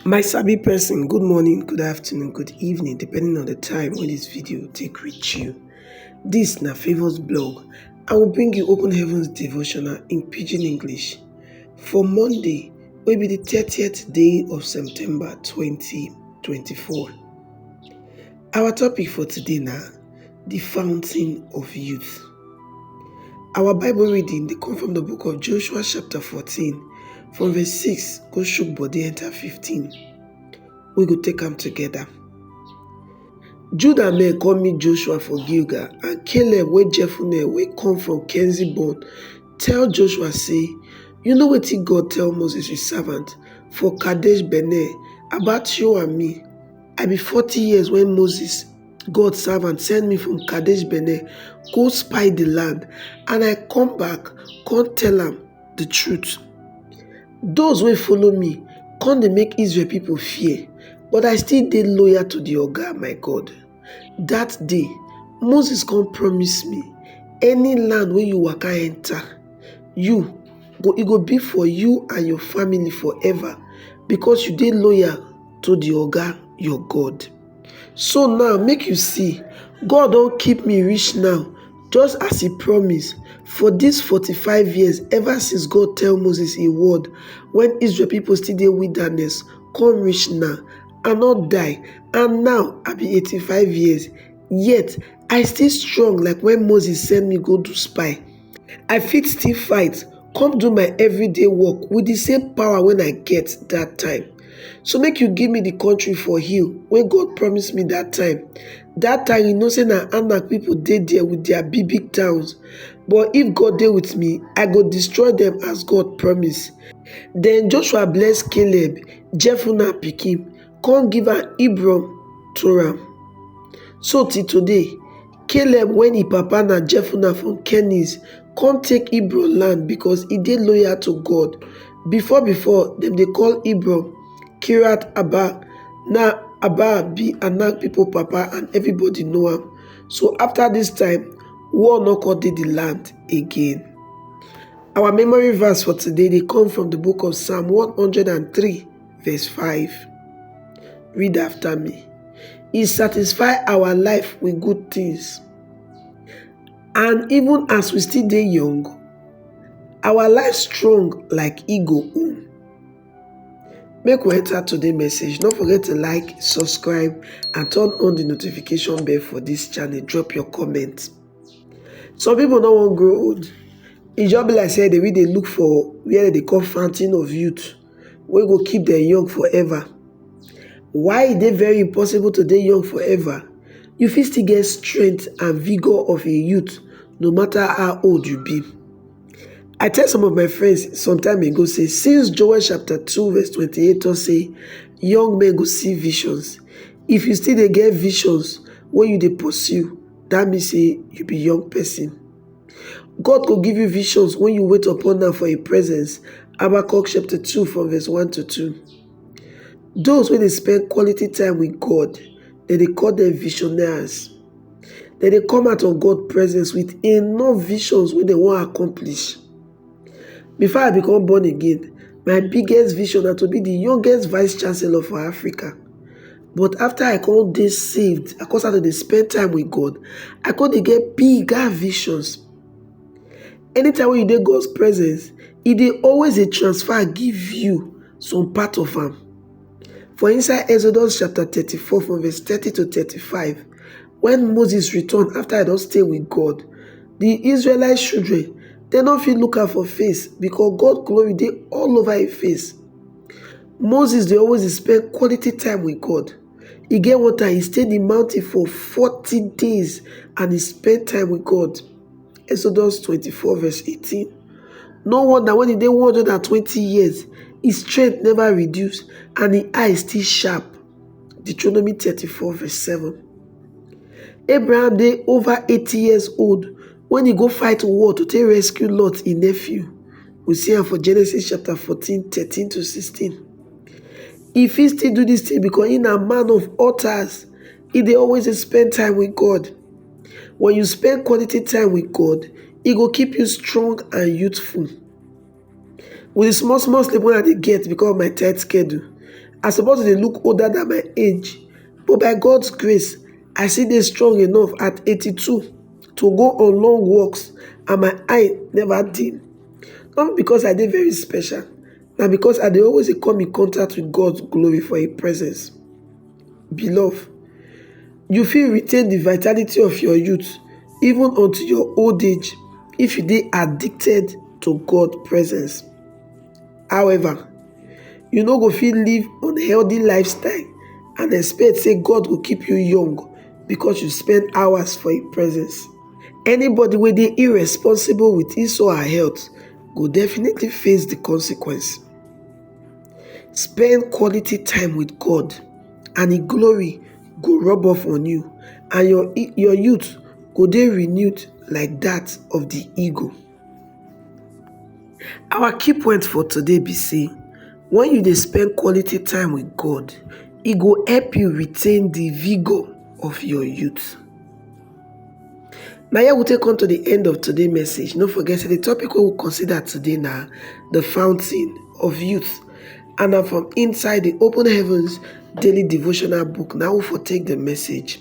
My sabi person good morning, good afternoon, good evening depending on the time when this video take reach you. This na Favour's blog. I will bring you Open Heavens devotional in Pidgin English for Monday wey be the 30th day of September 2024. Our topic for today na the fountain of youth. Our Bible reading dey come from the book of Joshua chapter 14 from verse 6 go shook body enter 15. We go take am together. Judah men come meet Joshua for Gilgal and Caleb wey Jephunneh wey come from Kenzi born tell Joshua say, You know wetin God tell Moses his servant for Kadesh Barnea about you and me. I be forty years when Moses God servant send me from Kadesh Bene go spy the land, and I come back come tell am the truth. Those wey follow me come dey make Israel people fear, but I still dey loyal to the Oga my God. That day, Moses come promise me, any land wey you waka enter, you go e go be for you and your family forever because you dey loyal to the Oga your God. So now make you see, God don keep me reach now just as e promise for dis forty-five years ever since God tell Moses im word when Israel people still dey wilderness come reach now. I no die and now I be eighty-five years yet I still strong like when Moses send me go do spy. i fit still fight come do my everyday work with the same power wen i get dat time so make you give me the country for hill wey God promise me dat time dat time you know say na anak people dey there with their big big towns but if God dey with me i go destroy them as God promise then Joshua bless Caleb Jephunneh pikin come give am Hebron to am so till today caleb wey im papa na jefuna from kennis come take hebron land because e dey loyal to god before before dem dey call hebron kiriath-arba now arba be anak people papa and everybody know am so after this time war no come dey the land again our memory verse for today dey come from the book of psalm 103 verse 5. Read after me. He satisfy our life with good things. And even as we still dey young, our life strong like eagle own. Make we enter today message. Don't forget to like, subscribe, and turn on the notification bell for this channel. Drop your comment. Some people no wan grow old. E just be like say they will they look for where they call fountain of youth. wey go keep dem young forever. Why e dey very impossible to dey young forever? You fit still get strength and vigour of a youth no matter how old you be. I tell some of my friends some time ago say since Joel chapter two verse twenty-eight talk say young men go see visions, if you still dey get visions wey you dey pursue, that mean say you be young person. God go give you visions when you wait upon am for im presence. Habakkuk chapter 2 from verse 1 to 2. Those wey dey spend quality time with God, dem dey call dem visionaries. Dem dey come out of God presence with enough visions wey dem wan accomplish. Before I become born again, my biggest vision na to be the youngest vice chancellor for Africa. But after I come dey saved, I come start to dey spend time with God, I come dey get bigger visions. Anytime when you dey God's presence, e dey always dey transfer give you some part of am. For inside Exodus chapter 34 from verse 30 to 35, when Moses return after I don stay with God, the Israelite children, they no fit look am for face because God glory dey all over him face. Moses dey always dey spend quality time with God. E get one time he stay the mountain for 40 days and he spend time with God. Exodus 24 verse 18. No wonder when he dey 120 years, his strength never reduce and his eye still sharp. Deuteronomy 34 verse 7. Abraham dey over 80 years old when he go fight war to take rescue Lot, his nephew. We see am for Genesis chapter 14, 13 to 16. He fit still do this thing because he na man of altars. He dey always dey spend time with God. When you spend quality time with God, e go keep you strong and youthful. With the small small sleep wey I dey get because of my tight schedule, I suppose to dey look older than my age. But by God's grace, I still dey strong enough at 82 to go on long walks and my eye never dim. Not because I dey very special, na because I dey always dey come in contact with God's glory for His presence. Beloved, you fit retain the vitality of your youth even unto your old age if you dey addicted to God's presence. However, you no go fit live unhealthy lifestyle and expect say God go keep you young because you spend hours for im presence. Anybody wey dey irresponsible with his or her health go definitely face the consequence. Spend quality time with God and im glory go rub off on you and your your youth go dey renewed like that of the eagle. Our key point for today be say when you dey spend quality time with God, e go help you retain the vigor of your youth. Na here we take come to the end of today message. No forget say the topic wey we consider today na the fountain of youth and na from inside the open heavens daily devotional book na we for take the message.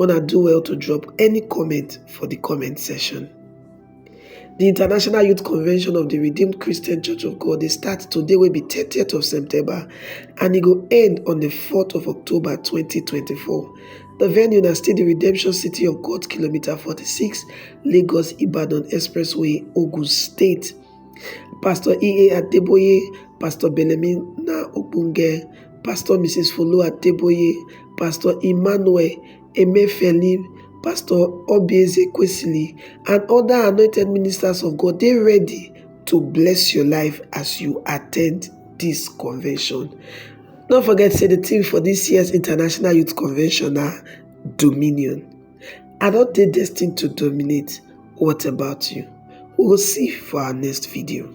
una do well to drop any comment for the comment section. The International Youth Convention of the Redeemed Christian Church of God dey start today will be 30th of September and it will end on the 4th of October 2024. The venue na still the Redemption City of God, kilometer 46, Lagos Ibadan Expressway, Ogun State. Pastor E.A. Adeboye, Pastor Belemina Ogbonge, Pastor Mrs. Folu Adeboye, Pastor Emmanuel Emefiele, Pastor Obieze Kwesili, and other anointed ministers of God dey ready to bless your life as you attend this convention. No forget say the theme for this year's International Youth Convention na Dominion. I don dey destined to dominate, what about you? We go see for our next video.